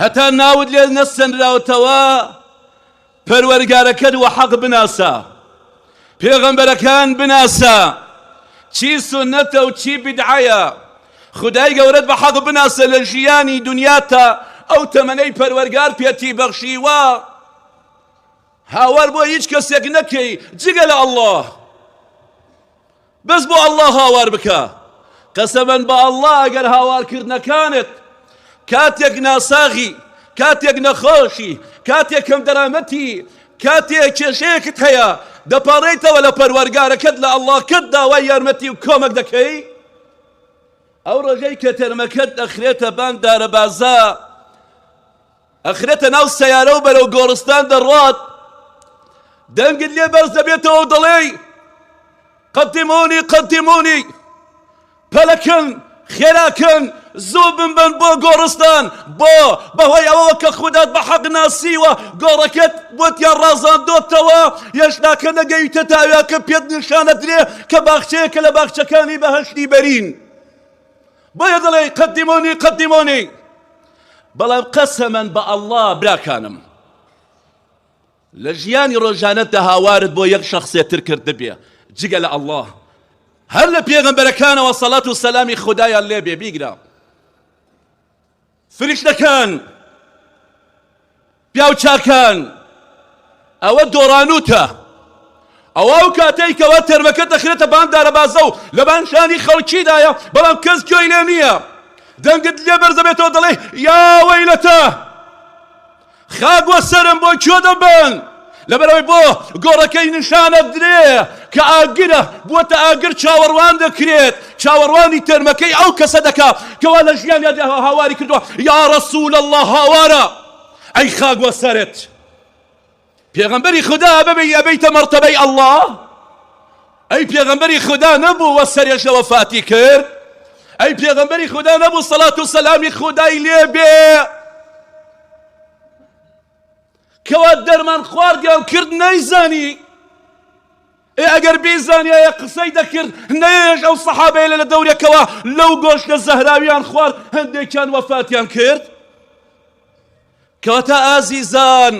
هەتا ناوت لێ نەسەنراوتەوە پەروەرگارەکەت وەحەق بناسە پێغەمبەرەکان بناسە چی سونەتە و چی بدعەیە خودای گەورەت بە حەق بناسە لە ژیانی دنیاتا ئەو تەمەنەی پەروەرگار پێتی بەخشیوە هاوار بۆ هیچ کەسێک نەکەی جگە لە ئەڵڵاه بەس بۆ اللە هاوار بکە. قەسەمەن بە اللە ئەگەر هاوارکردنەکانت کاتێک ناساغی، کاتێک نەخۆشی، کاتێک کەم دەرامەتی، کاتێ کێشەیەکت هەیە دەپاڕێیتەوە لە پەروەرگارەکەت لە اللەکەت داوای یارمەتی و کۆمەک دەکەی، ئەو ڕۆژەی کە تەرمەکەت ئەخرێتە بان دارەبازە، ئەخرێتە ناو سەیارەو بەرەو گۆڕستان دەڕوات دەنگت لێ بەرز دەبێتەوەو دەڵێی قەدیمونی قەدیمونی پەلەکەن خێراکەن زوو بمبەن بۆ گۆڕستان بۆ بەهۆی ئەوەوە کە خودات بە حەق ناسیوە گۆڕەکەت بۆتیان ڕازاندۆتەوە هێشتاکە نەگەیتە تاوێکە پێت نیشانەدرێ کە باخچەیەکە لە باخچەکانی بەهەشتی بەرین بۆیە دەڵێی قدمونی قدمونی بەڵام قەسەمەن بە ئەڵڵا براکانم لە ژیانی ڕۆژانەتدا هاوارت بۆ یەک شخصێ تر کرد ببێ جگە لە ئەڵڵا هەر لە پێغەمبەرەکانەوە سەڵات و سەلامی خودایان لێبێ بیگرە فریشتەکان، پیاو چاکان، ئەوە دۆڕانووتە، ئەوە ئەو کاتەی کەوا تەرمەکە دەخرێتە بان دارەبازە و لە بان شانی خەڵکیدایە، بەڵام کەس گوێی لێ نییە، دەنگت لێ بەرزدەبێتەوە دەڵێی، یا وەیلەتە! خاک و سەرم بۆ کوێ دەبەن؟ لەبەرئەوەی بۆ گۆڕەکەی نیشان ئەدرێ کە ئاگرە، بووەتە ئاگر چاوەڕوان دەکرێت، چاوەڕوانی تەرمەکەی ئەو کەسە دەکا کە وا لە ژیانیادا هاواری کردووە، یا رسول اللە هاوارە ئەی خاک وەسەرت. پێغەمبەری خودا ببی ئەبیتە مەرتەبەی اللە ئەی پێغەمبەری خودا نەبوو وە سەرێش لە وەفاتی کرد ئەی پێغەمبەری خودا نەبوو سەڵات و سەلامی خودای لێ بێ کەوا دەرمان خواردیان کرد نەیزانی ئێ ئەگەر بیزانایە قسەی دەکرد نەیەش ئەو سەحابەیە لە دەورێکەوە لەو گۆشتە زەهراویان خوارد هەندێکیان وەفاتیان کرد کەواتە ئازیزان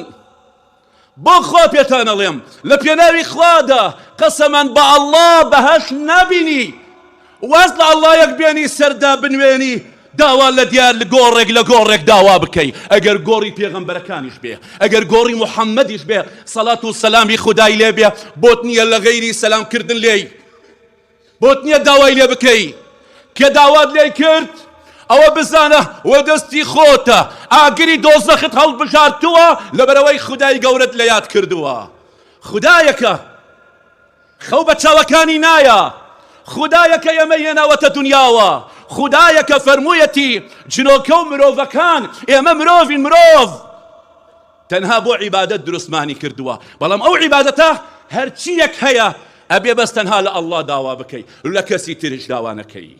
بۆ خوا پێتان ئەڵێم لە پێناوی خوادا قەسەمەن بە ئەڵڵا بەهەشت نابینی واز لە ئەڵڵایەک بێنی سەردا بنوێنی داوا لە دیار لە گۆڕێک لە گۆڕێک داوا بکەی ئەگەر گۆڕی پێغەمبەرەکانیش بێ ئەگەر گۆڕی محەممەدیش بێ سەڵات و سەلامی خودای لێ بێ بۆت نییە لە غەیری سەلام کردن لێی بۆت نییە داوای لێ بکەی کێ داوات لێی کرد ئەوە بزانە وە دەستی خۆتە ئاگری دۆزەخت هەڵبژاردووە لەبەرەوەی خودای گەورەت لە یاد کردووە خودایەکە خەو بە چاوەکانی نایە خودایەکە ئێمە هێناوەتە دنیاوە خودایەکە فەرموویەتی جنۆکە و مرۆڤەکان ئێمە مرۆڤین مرۆڤ تەنها بۆ عیبادەت دروستمانی کردووە بەڵام ئەو عیبادەتە هەرچییەک هەیە ئەبێ بەس تەنها لە اللە داوا بکەی لە کەسی تریش داوا نەکەی